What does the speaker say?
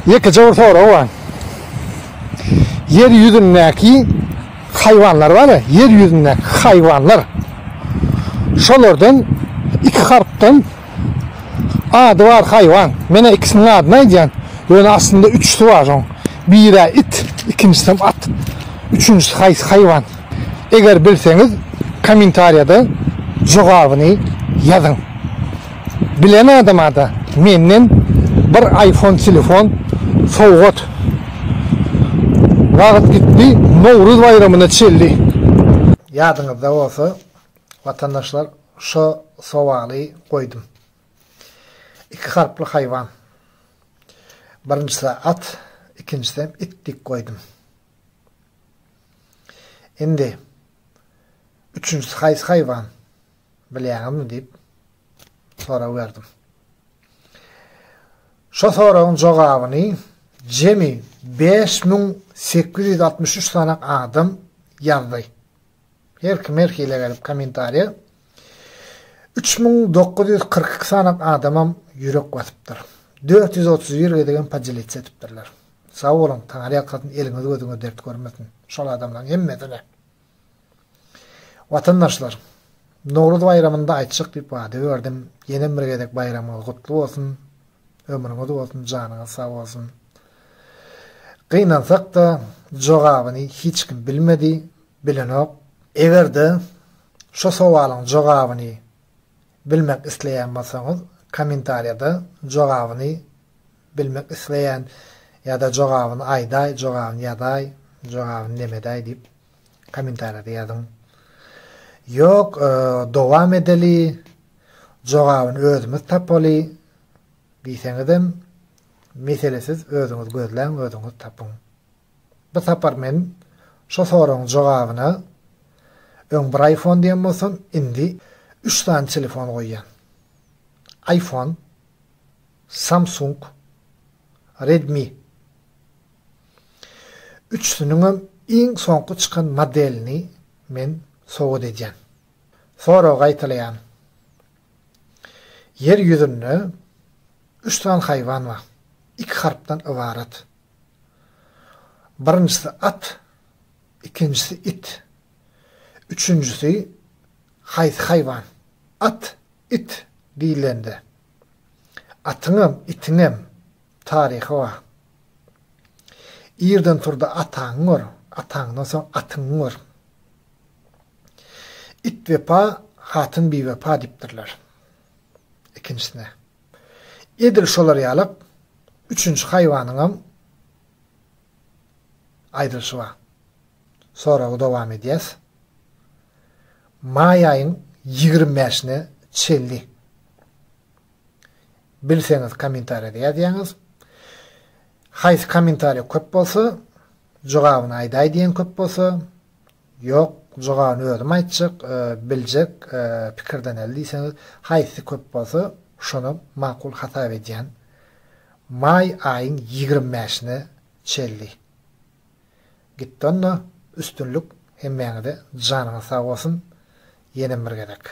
Ýekeje bir sorag bar. Ýer ýüzündäki haýwanlar bar-a, ýer ýüzündäki haýwanlar. Şolardan iki harpdan ady bar haýwan. Men-ä ikisiniň adyny aýdýan. Ýöne aslynda üçüsi bar şoň. Biri-ä it, ikinjisem at. Üçünjisi haýsy haýwan? Eger bilseňiz, kommentariýada jogabyny ýazyň. Bilen adamada menden bir iPhone telefon sowgat. Wagt gitdi, Nowruz baýramyna çelli. Ýadyňyzda bolsa watandaşlar şo sowaly goýdum. Iki harply haýwan. Birinjisä at, ikinjisem it diýip goýdum. Indi üçünjisi haýsy haýwan? Bilýäňizmi? diýip sorag berdim. Şo soragyň jogabyny jemi bäş müň sekiz ýüz altmyş üç sany adam ýazdy. Her kim her hili gelip kommentariýa. Üç müň dokuz ýüz kyrk iki sany adamam ýürek basypdyr. Dört ýüz otuz bir gezegem podelitse edipdirler. Sag boluň, Taňry ýalkasyn, eliňiz gözüňiz dert görmesin. Şol adamlaryň hemmesine. Watandaşlar! Nowruz baýramynda aýtjak diýip wada berdim, ýenem bir gezek baýramyňyz gutly bolsun, ömrüňiz bolsun, janyňyz sag bolsun! Gynansak-da, jogabyny hiç kim bilmedi, bilenok. Eger-de şu sowalyň jogabyny bilmek isleýän bolsaňyz, kommentariýada jogabyny Bilmek isleýän ýa-da jogabyny aýdaý, jogabyny ýazaý, jogabyny nemedäý diýip kommentariýada ýazyň. Ýok, dowam edeli, jogabyny özümiz tapaly diýseňizem mesele siz özüňiz gözläň, özüňiz tapyň. Bu sapar men şo soragyň jogabyna öň bir iPhone diýen bolsam, indi üç sany telefon goýýan. iPhone Samsung, Redmi. Üçüsiniňem iň soňky çykan modelini men sowgat edýän. Soragy gaýtalaýan. Ýer ýüzünde üç sany haýwan bar. Iki harpdan ybarat. Birinjisi at, ikinjisi it. Üçünjisi haýsy haýwan? At, it diýilende Atyňam, itiňem taryhy bar. Irden tur-da ataňy gör, ataňdan soň atyňy gör. It wepa, hatyn biwepa diýipdirler. Ikinjisine, edil şolar ýaly üçünji haýwanyňam aýdylyşy bar. Soragy dowam edýäs. Maý aýyň ýigrimi bäşine çenli bilseňiz kommentariýada ýazýaňyz. Haýsy kommentariýa köp bolsa, jogabyny aýdaý diýen köp bolsa, ýok, jogabyny özüm aýtjak, biljek, pikirdeneli diýseňiz, haýsy köp bolsa, şony makul hasap edýän. Maý aýyň ýigrimi bäşine çenli. Gitdonda üstünlik hemmäňize janyňyz sag bolsun ýenem bir gezek.